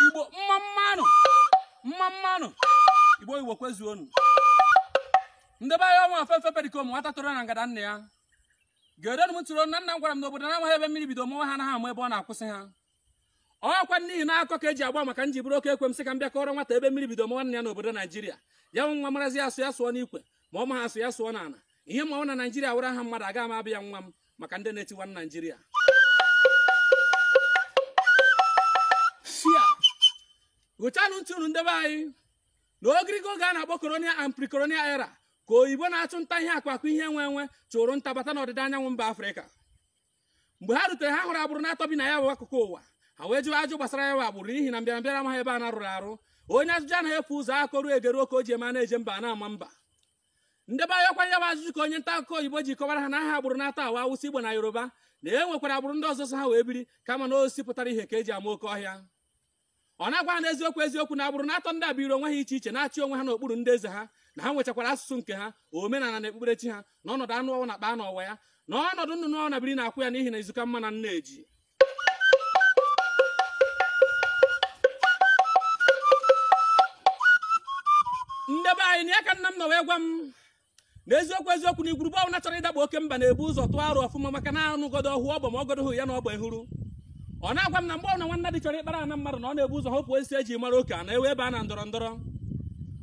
igbo mma mmanụ mma mmanụ igbo igbo kwezuonu ndebe anyị ọnwa afefe perikom nwata toro na ngada nna ya gerenụ m tụrụ na nna m gwara m n'obodo na amaghị ebe mmiri bido mawa ha anaghị ama ebe ọ na-akwụsị ha ọkwa n'ihi na akọ ka eji agba maka nji bụrụ oke ekwe m sị ka m bịa kọrọ nwata ebe mmiri bido mawa nna ya n'obodo naijiria ya wụ nwa marazi asụ ya sụọ n'ikwe ma ọ maha asụ ya sụọ n'ala ihe m ma wụ na naijiria wụrụ aha mmadụ aga m aba ya nwa m maka ndị na-etiwa na naijiria hụchanụ ntị unu ndebe anyị na ogirigo oge a na-akpọ colonial and pre-colonial era ka oyibo na-achụ nta ihe akụ akụ ihe enwe enwe chụrụ nta bata n'ọdịda anyanwụ mba afrịka mgbe ha rutere ha hụrụ agbụrụ n'atọ bi na ya bụ akụkụ ụwa ha wee jụọ ajụ gbasara ya bụ agbụrụ n'ihi na mbịarambịara amaghị ebe ana rụrụ arụ onye ajụjụ anaghị efu ụzọ akọruo egeruo ka o ji eme a na-eje mba a na-ama mba ndebe anyị ọkwa ya bụ ajụjụ ka onye nta akụkọ oyibo ji kọwara ha na aha agbụrụ n'atọ a wụ awụsa igbo na yoruba na e nwekwara agbụrụ ndị ọzọ so ha wee biri kama na osisi pụtara ihe ka eji ama oke ọhịa ọ na-agwa ha n'eziokwu eziokwu na agbụrụ n'atọ ndị a biri onwe ha iche iche na-achị onwe ha n'okpuru ndị eze ha na ha nwechakwara asụsụ nke ha omenala na ekpukperechi ha na ọnọdụ anụ ọwụna kpaa n'ọwa ya na ọnọdụ nnụnụ ọwụna biri n'akwụ ya n'ihi na izu ka mma na nne ji ndebe anyị na ya ka nna m nọ wee gwa m na eziokwu eziokwu na igwurube ọbụla chọrọ ịdakpo oke mba na-ebu ụzọ tụọ aro ọfụma maka na anụgodo ọhụụ ọgbọ ma ọgodo hụ ya na ọgba ehuru ọ na-agwa m na mgbe ọbụla nwannadi chọrọ ịkpara ana mmadụ na ọ na-ebu ụzọ hopụ osisi eji mara oke ana ewe ebe a na ndọrọ ndọrọ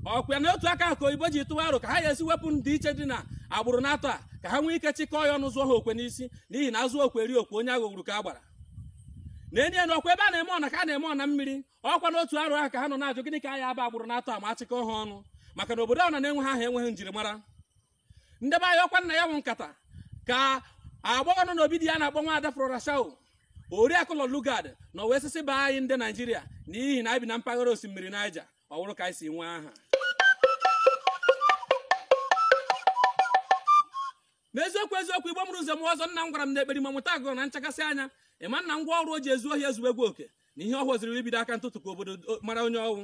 ọkwa ya na otu aka ahụ ka oyibo ji tụwa aro ka ha ga-esi wepụ ndịiche dị na agbụrụ n'atọ a ka ha nwee ike chịkọọ ya ọnụ zụọ ha okwe n'isi n'ihi na azụ okwe eri okwe onye aghọgburu ka a gbara na enye na ọkwa ebe a na-eme ọna ka a na-eme ọna mmiri ọkwa n'otu aro ahụ ka ha nọ na-ajụ gịnị ka a ya aba agbụrụ n'atọ a ma achịkọọ ha ọnụ maka na obodo ọwụna na-enweha aha enweghị njirimara ndebe anyị ọkwa na ya bụ nkata ka agbọghọ nọ n'obi di ya a na-akpọ nwa ada flora shaw oriakụ lord lugard nọ wee sị sị baa anyị ndị naijiria n'ihi na anyị bi na mpaghara osimiri naija ọ bụrụ ka anyị si nwee aha ma eziokwu eziokwu igbo mụrụ nze mụọ ọzọ nna m gwara m na ekperima mụta agụụ na nchakasị anya ịma na ngwa ọrụ o ji ezu ohi ezuwegwo oke na ihe ọ họziri wụ ibido aka ntụtụ ka obodo mara onye ọ wụ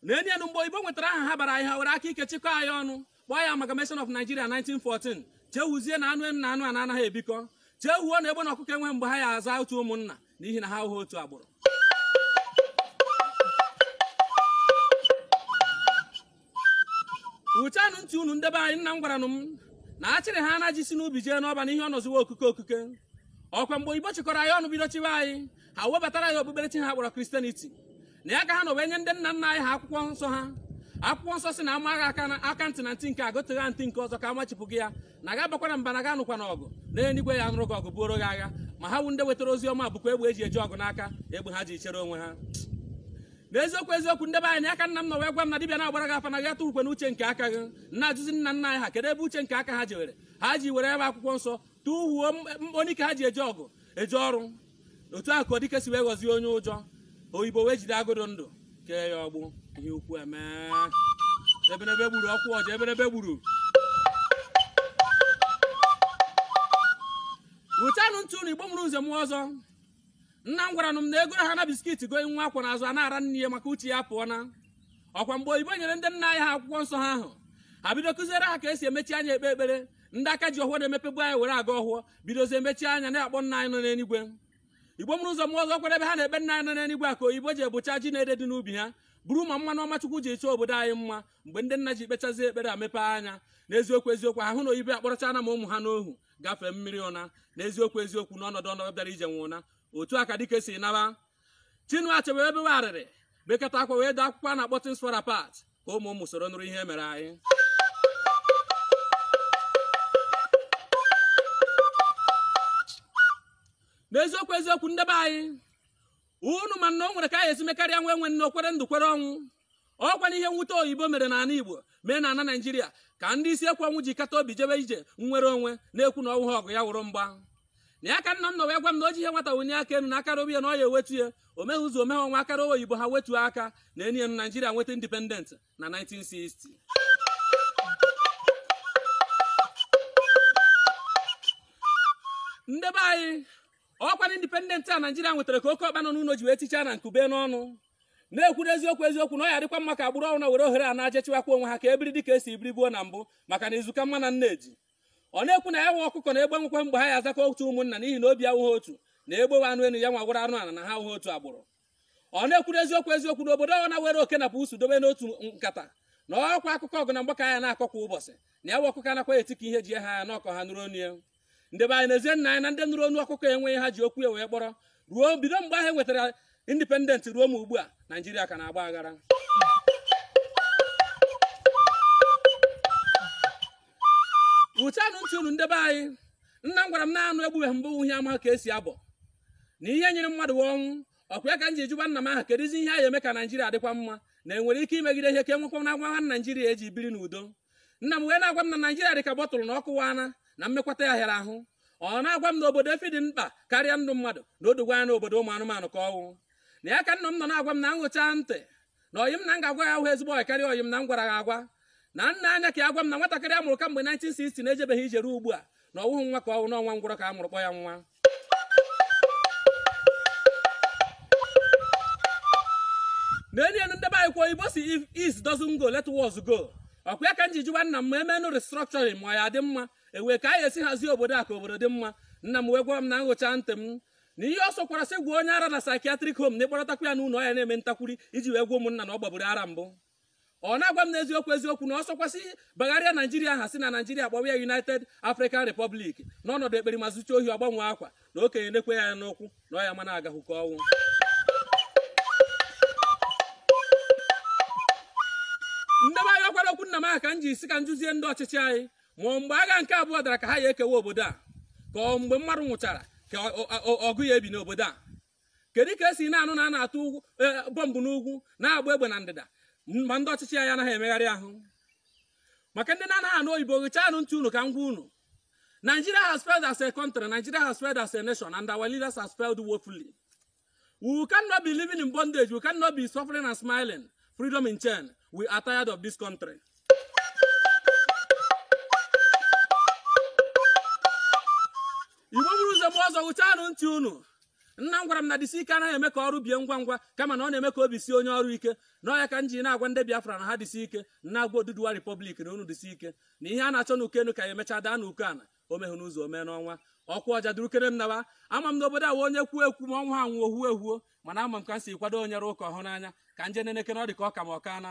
na enyi enu mgbe oyibo nwetara aha ha bara anyị ha were aka ike chịkọọ anyị ọnụ kpọọ ya amalgamation of Nigeria 1914 chewuzie na anụ enu na anụ ana anaghị ebikọ chewuo na egbe na ọkụkọ enwe mgbe ha ya aza otu ụmụnna n'ihi na ha awụghị otu agbụrụ hụchanụ ntị unu ndebe anyị nna m gwaranụ m na a chịrị ha na ji si n'ubi jee n'ọba na ihe ọ nọziwa okuke okuke ọkwa mgbe oyibo chịkọrọ anyị ọnụ bido chịwa anyị ha webatara anyị okpukperechi ha kpọrọ christianity na ya ka ha nọ wee nye ndị nna nna anyị ha akwụkwọ nsọ ha akwụkwọ nsọ sị na a maa gị aka na aka ntị na ntị nke a goteghị ntị nke ọzọ ka a machipụ gị ya na gị abakwana mba na gị anụkwana ọgụ na eluigwe ya anụrụ gị ọgụ buoro gị agha ma ha wụ ndị wetara ozi ọma bukwa egbe eji eje ọgụ n'aka egbe ha ji chere onwe ha n'eziokwu eziokwu ndị be anyị na ya ka nna m nọ wee gwa m na dibịa na-agbara gị afa na gị atụhukwana uche nke aka gị m na-ajụzi nna nna anyị ha kedu ebe uche nke aka ha jewere ha ji were ebe akwụkwọ nsọ tụhuo anyịke ha ji eje ọgụ eje ọrụ otu a ka dike si wee ghọzie onye ụjọ oyibo wee jide agụ dị ndụ kee ya agbụ ihe ukwu emee eberebe gburu ọkwụ ọja eberebe gburu wụchanụ ntị unu igbo mụrụ nze mụọ ọzọ nna m gwara m na egoro ha na biskit gonye nwa akwọ n'azụ a na-ara nne ya maka uche ya pụọ na ọkwa mgbe oyibo nyere ndị nna anyị ha akwụkwọ nsọ ha ahụ ha bido kụziere ha ka esi emechi anya ekpe ekpere ndị aka ji ọhọ na-emepebu anya were agọ ọhọ bidozie emechi anya na-akpọ nna anyị nọ n'eluigwe igbo mụrụ nze mụọ ọzọ ọkwa ebe ha na-ekpe nna anyị nọ n'eluigwe a ka oyibo ji bucha ji na ede dị n'ubi ha buru ma mmanụ ọma chukwu ji chọọ obodo anyị mma mgbe ndị nna ji kpechazie ekpere a mepee anya n'eziokwu eziokwu ahụ na oyibo akpọrọchana ma ụmụ ha n'ohu gafee mmiri naa n'eziokwu eziokwu n'ọnọdụ ọnọdụ bịara ije nwe ụna otu a ka dike si naba Chinua Achebe wee bewe arịrị bekata akwa wee dee akwụkwọ a na-akpọ Things Fall Apart ka ụmụ ụmụ soro nụrụ ihe mere anyị n'eziokwu eziokwu ndị be anyị unu ma na o nwere ka a ya esi mekarịa nwa enwe nne o kwere ndụ kwere ọnwụ ọkwanụ ihe mwute oyibo mere n'ala igbo mee na ala naijiria ka ndị isi ekwe ọnwụ ji kata obi jebe ije nnwere onwe na-ekwu na ọ wụghị ọgụ ya wụrụ mgba na ya ka nna m nọ wee gwa m na o ji ihe nwata wenye aka elu na aka raba ya na ọ ya ewetu ya o meghị izu o meghị ọnwa aka rawa oyibo ha wetuo aka na enyi enu naijiria nweta independent na 1960 ndị be anyị ọkwanụ independent a naijiria nwetara ka oke ọkpa nọ n'ụlọ ji wee tichaa ana nku be n'ọnụ na-ekwu n'eziokwu eziokwu na ọ ya adịkwa mma ka agbụrụ ọwụna were ohere a naa je chịwakwa onwe ha ka ebiri dịka esi biri gboo na mbụ maka na izu ka mma na nneji ọ na-ekwu na ya nwa ọkụkọ na egbe enwekwa mgbe ha ya azakọ otu ụmụnna n'ihi na obi awụghị otu na egbe wụ anụ enu ya nwa wụrụ anụ ala na ha awụghị otu agbụrụ ọ na-ekwu n'eziokwu eziokwu na obodo ọwụna were oke na pusu dobe n'otu nkata na ọkwa akụkọ ọgụ na mgba ka a ya na-akọ kwa ụbọchị na ya nwa ọkụkọ anakwaghị eti ka ihe ji ya haa ya na ọ ka ọha nụrụ onu ya ndị be anyị n'ezie nna anyị na ndị nụrụ onu ọkụkọ enweghị ihe ha ji okwu ya wee kpọrọ ruo bido mgbe ahụ e nwetara independent ruo ma ugbu a naijiria ka na-agba aghara wụchanụ ntị unu ndị be anyị nna m gwara m na anụ egbubeghị mbụ ihe ama ka esi abọ na ihe nyere mmadụ ọnwụ ọkwa ya ka m ji jụba nna m aha kedụzi ihe a ya eme ka naijiria dịkwa mma na enwere ike imegide ihe ka enwekwa na agwa ha naijiria eji biri n'udo nna m wee na-agwa m na naijiria dị ka bọtụlụ na ọ kụwaa na mmekwata ya hịara ahụ ọ na-agwa m na obodo efi dị mkpa karịa ndụ mmadụ na o dogwo anya na obodo ụmụ anụmanụ ka ọ wụ na ya ka nna m nọ na-agwa m na m ghụchaa ntị na ọyị m na m ga-agwa ya ahụ ezigbo ọyị karịa ọyị m na m gwara ya agwa na m nee anya ka ya gwa m na nwatakịrị a mụrụ kamgbe 1960 na-ejebeghị ije ruo ugbu a na ọ wụghị nwa ka ọ wụ na ọ nwa ngwụrọ ka a mụrụ kpọ ya nwa n'enye ndị be anyị kwuo igbo si if east doesn't go let west go ọkwa ya ka m ji jụwa nna m ma e menụ restructuring ma ọ ya-adị mma ewee ka a ya-esi hazie obodo a ka obodo dị mma nna m wee gwa m na m ghụchaa ntị m na ihe ọ sọkwara sị gwọọ onye ara na psychiatric home na ị kpọrọtakwa ya n'ụlọ ọ ya na-eme ntakwuri iji wee gwa ụmụnna na ọ gbaburu ara mbụ ọ na-agwa m n'eziokwu eziokwu na ọ sọkwa sị bagharịa naijiria aha si na naijiria kpọwa ya united african republic n'ọnọdụ ekperima zuchaa ohi ọ gbanwee akwa na okenye nekwe ya n'ụkwụ na ọ ya-ama na agahụ ka ọ wụ ndị be anyị ọkwara okwu nna m aha ka m ji sị ka m jụzie ndị ọchịchị anyị ma ọ mgbe agha nke abụọ dara ka ha ya-ekewa obodo a ka ọ mgbe mmadụ nwụchara ka ọ- ọ- ọ- ọgụ ya-ebi n'obodo a kedu ka e si na-anụ na a na-atụ ugwu eh, bọmbụ n'ugwu na-agba egbe na ndịda m- ma ndị ọchịchị anyị anaghị emegharị ahụ maka ndị na-anaghị anụ oyibo ghụchaanụ ntị unu ka m gwa unu Nigeria has failed as a country, Nigeria has failed as a nation, and our leaders has failed woefully. We cannot be living in bondage, we cannot be suffering and smiling, freedom in chain. We are tired of this country. Igbo bụrụ ụzọ m ọzọ ghụchaanụ ntị unu nna m gwara m na disi ike anaghị eme ka ọrụ bie ngwa ngwa kama na ọ na-eme ka obi sie onye ọrụ ike na ọ ya ka m ji na-agwa ndị Biafra na ha disi ike na-agwa Oduduwa Republic na unu disi ike na ihe a na-achọ n'uko enu ka ya-emechaa daa n'uko ana o mehụ n'izu o mee n'ọnwa ọkwa ọja durukere m nawa ama m n'obodo awa onye kwuo ekwu ma ọnwa ha nwụọ huo ehuo mana ama m ka m si kwado onye rụọ ụka ọ hụrụ n'anya ka m je nenekere ọ dị ka ọ ka ma ọka na